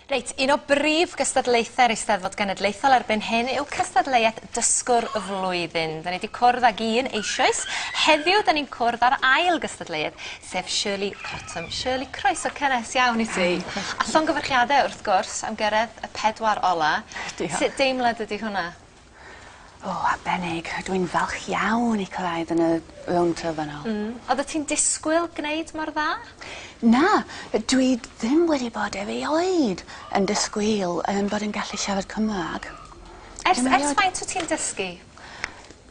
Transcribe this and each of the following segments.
Reit, un o brif gystadlaethau'r Eisteddfod Genedlaethol erbyn hyn yw cystadleuaeth Dysgwr y Flwyddyn. Da ni wedi cwrdd ag un eisioes. Heddiw, da ni'n cwrdd â'r ail gystadleuaeth, sef Shirley Cottam. Shirley, croeso cynnes iawn i ti. A llongyfarchiadau, wrth gwrs, am gyrraedd y pedwar ola. Diolch. Sut deimlad ydy hwnna? O, arbennig. Dw i'n falch iawn i cyrraedd yn y rownd terfynol. Mm. Oeddet ti'n disgwyl gwneud mor dda? Na, dw i ddim wedi bod erioed yn disgwyl yym bod yn gallu siarad Cymraeg. Ers ers faint wyt ti'n dysgu?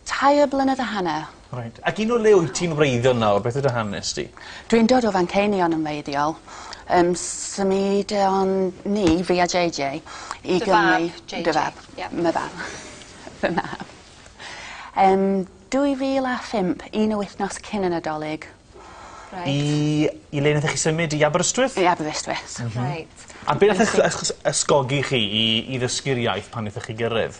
Tair blynedd a hanner. Reit. Ac un o le wyt ti'n wreiddio nawr beth yw dy hanes di? Dwi'n dod o Fanceinion yn wreiddiol. Yym symudion ni fi a Jay Jay i Gymru... Dy fab Jay Jay. Dy fab. Ia. My fam. Fy mab. Yym dwy fil a phump un o wythnos cyn y Nadolig. Reit. I i le nathoch chi symud i Aberystwyth? I Aberystwyth. M-hm. Reit. A be' nath ych- ych- ysgogi chi i i ddysgu'r iaith pan nethoch chi gyrredd?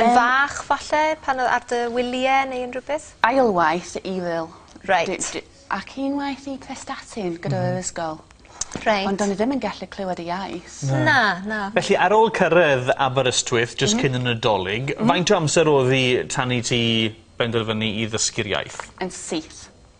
Yn fach falle pan o- ar dy wylie neu unrhyw beth? Ail waith i Evil. Reit. Dwi dwi... Ac un waith i Prestatyn gyda fo yn ysgol. Reit. Ond do'n i ddim yn gallu clywed y iaith. Na. Na na. Felly ar ôl cyrredd Aberystwyth jyst cyn y Nadolig faint o amser odd 'i tan i ti benderfynu i ddysgu'r iaith? Yn syth.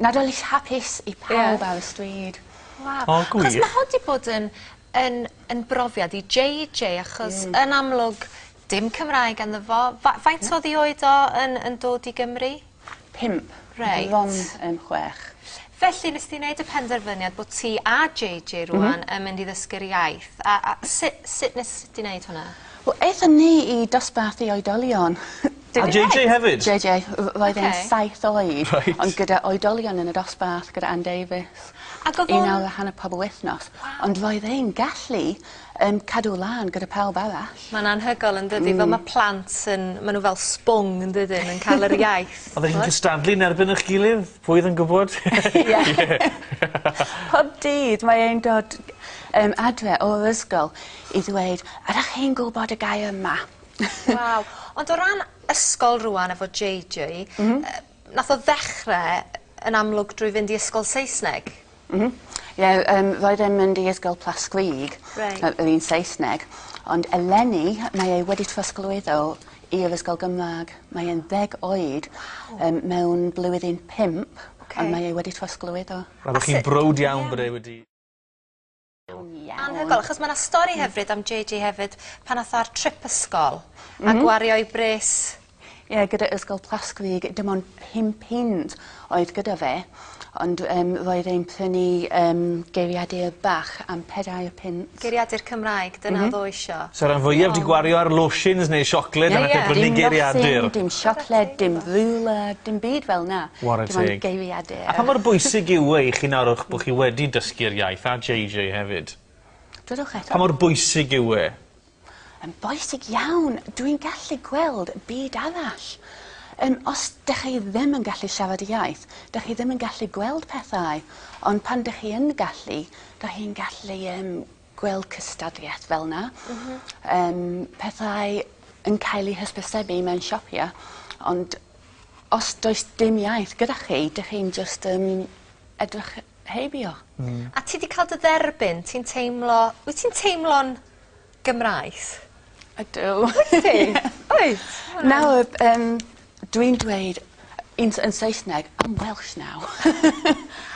Nadolig hapus i pawb... Ie. ...ar y stryd. Waw. O gwych. 'Chos ma' hon 'di bod yn yn yn brofiad i Jay Jay achos... Hmm. ...yn amlwg dim Cymraeg ganddo fo fa- faint o'dd 'i oed o yn yn dod i Gymru? Pump. Reit. Bron yn chwech. Felly nes di neud y penderfyniad bo' ti a Jay Jay rŵan... M-hm. ...yn mynd i ddysgu'r iaith a a su- sut nes di neud hwnna? Wel ethon ni i dosbarth i oedolion A Jay Jay hefyd? Jay Jay r- roedd e'n... Oce. ...saith oed. Reit. Ond gyda oedolion yn y dosbarth gyda Ann Davies. Ag odd o'n... Un awr a hanner pob wythnos. Waw. Ond roedd e'n gallu yym cadw lan gyda pawb arall. Ma'n anhygol yndydi? Hmm. Fel ma' plant yn ma' n'w fel sbwng yndydyn yn ca'l yr iaith. Oddech chi'n cystadlu yn erbyn 'ych gilydd pwy o'dd yn gwbod? Ie. Pob dydd mae e'n dod yym adre o'r ysgol i ddweud ydach chi'n gwbod y gair 'ma'. Waw. Ond o ran ysgol rŵan efo Jay Jay... M-hm. ...yy nath o ddechre yn amlwg drwy fynd i ysgol Saesneg. M-hm. Ie yym roedd e'n mynd i ysgol Plas-glug. Reit. Yy yr un Saesneg ond eleni mae e wedi trosglwyddo i'r ysgol Gymrag. Mae e'n ddeg oed. Waw. Yym mewn blwyddyn pump. Oce. A mae e wedi trosglwyddo. A su-... Roeddech chi'n browd iawn bod e wedi Iawn. Anhygoel achos ma' 'na stori hyfryd am Jay Jay hefyd pan nath o ar trip ysgol... M-hm. ...a gwario 'i bres. Ie gyda Ysgol Plasgwig dim ond pum punt oedd gyda fe ond yym roedd e'n prynu yym geiriadur bach am pedair punt. Geiriadur Cymraeg dyna... M-hm. ...odd o isio. Sa ran fwyaf 'di gwario ar lotions neu siocled... Ie ie. ...a nath e brynu geiriadur. Dim nothing dim siocled dim rwla dim byd fel 'na. Ware teg. Dim ond geiriadur. Ie. A pha mor bwysig yw e i chi nawr o'ch bo' chi wedi dysgu'r iaith a JJ hefyd? Dwedwch eto. Pa mor bwysig yw e? Yn bwysig iawn. Dw i'n gallu gweld byd arall. Yym os dych chi ddim yn gallu siarad y iaith dych chi ddim yn gallu gweld pethau ond pan dych chi yn gallu dych chi'n gallu yym gweld cystadleuaeth fel 'na. M-hm. Yym pethau yn cael eu hysbysebu mewn siopie ond os does dim iaith gyda chi 'dych chi'n jyst yn edrych heibio. Hmm. A ti 'di ca'l dy dderbyn ti'n teimlo wyt ti'n teimlo'n Gymraes? Ydw. Wyt ti? Wyt. Nawr yym Dwi'n dweud yn yn Saesneg I'm Welsh now.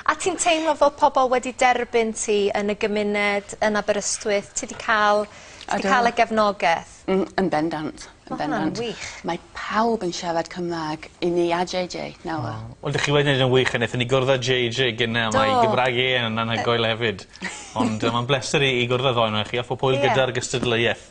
A ti'n teimlo fod pobol wedi derbyn ti yn y gymuned yn Aberystwyth? Ti 'di ca'l... Odw. ...ti 'di ca'l y gefnogeth? Mm yn bendant. Yn bendant. Ma' hwnna'n wych. Mae pawb yn siarad Cymra'g i ni a Jay Jay nawr. O. Wel dych chi wedi neud e'n wych a nethon ni gwrdd â Jay Jay gynne a... Do. ...mae 'i Gymra'g e yn anhygoel hefyd. Ond yy ma'n bleser i i gwrdd â ddou onoch chi a phob hwyl... Ie. ...gyda'r gystadleueth.